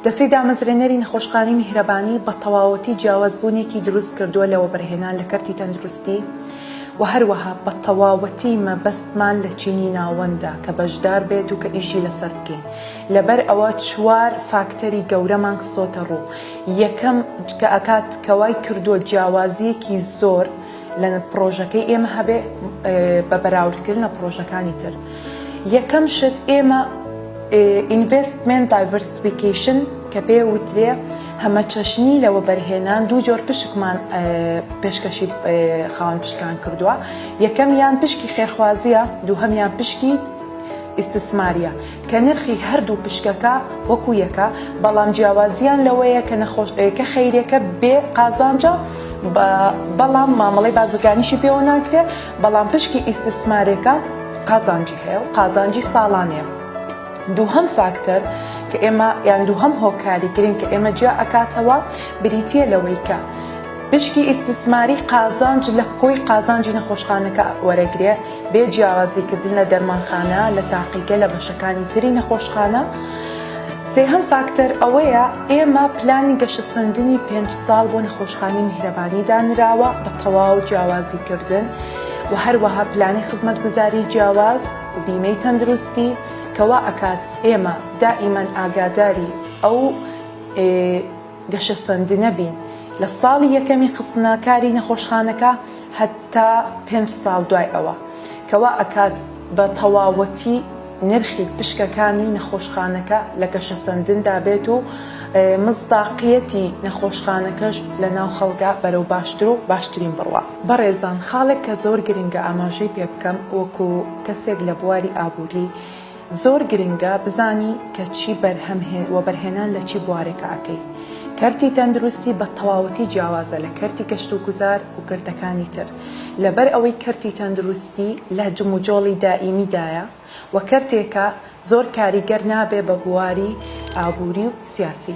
دەستەی دامەزرێنەری نەخۆشخانەی میهرەبانی بە تەواوەتی جیاوازبوونێکی دروست کردووە لە وەبەرهێنان لە کەرتی تەندروستی و هەروەها بە تەواوەتی مەبەستمان لە چینی ناوەندە کە بەشدار بێت و کە ئیشی لەسەر بکەین لەبەر ئەوە چوار فاکتەری گەورەمان خستۆتە ڕوو یەکەم کە ئەکات کە وای کردووە جیاوازیەکی زۆر لە پڕۆژەکەی ئێمە هەبێ بە بەراوردکردن لە پڕۆژەکانی تر یەکەم شت ئێمە ئینڤستمنت دایڤرسفیکیشن کە پێ وترێ هەمە چەشنی لە وەبەرهێنان دوو جۆر پشکمان پێشکەشی خاوەن پشکان کردووە یەکەم یان پشکی خێرخوازیە دووهەمیان پشکی ئیسسماریە کە نرخی هەردوو پشکەکە وەکو یەکە بەڵام جیاوازیان لەوەیە کە نەخۆش کە خەیرێکە بێ قازانجە بەڵام مامەڵی بازرگانیشی پێوە ناکرێت بەڵام پشکی ئیسسمارێکە قازانجی هەیە و قازانجی ساڵانەیە دووهەم فاکتەر کە ئێمە یان دووهەم هۆکاری گرنگ کە ئێمە جیا ئەکاتەوە بریتە لەوەی کە پشکی ئیسسماری قازانج لە کۆی قازانجی نەخۆشخانەکە وەرەگرێ بێ جیاوازی کردن لە دەرمانخانە لە تاقیگە لە بەشەکانی تری نەخۆشخانە. سێهەم فاکتەر ئەوەیە ئێمە پلانی گەشەسەندنی پێنج ساڵ بۆ نەخۆشخانی میهرەبانی دانراوە بە تەواو جیاوازی کردن و هەروەها پلانی خزمەتگوزاری جیاواز و بیمەی تەندروستی کە وا ئەکات ئێمە دائیمەن ئاگاداری ئەو گەشەسەندنە بین لە ساڵی یەکەمی خستنەکاری نەخۆشخانەکە هەتا پێنج ساڵ دوای ئەوە کە وا ئەکات بە تەواوەتی نرخی پشکەکانی نەخۆشخانەکە لە گەشەسەندندا بێت و مصداقیەتی نەخۆشخانەکەش لە ناو خەڵکا بەرەو باشتر و باشترین بڕوا. بەڕێزان خاڵێک کە زۆر گرنگە ئاماژەی پێ بکەم وەکو کەسێک لە بواری ئابوری، زۆر گرنگە بزانی کە چی بەرهەم هێ وەبەرهێنان لە چی بوارێکا ئەکەی. کەرتی تەندروستی بە تەواوەتی جیاوازە لە کەرتی گەشت و گوزار و کەرتەکانی تر. لەبەر ئەوەی کەرتی تەندروستی لە جموجۆڵی دائیمی دایە و کەرتێکە زۆر کاریگەر نابێ بە بواری ئابوری و سیاسی.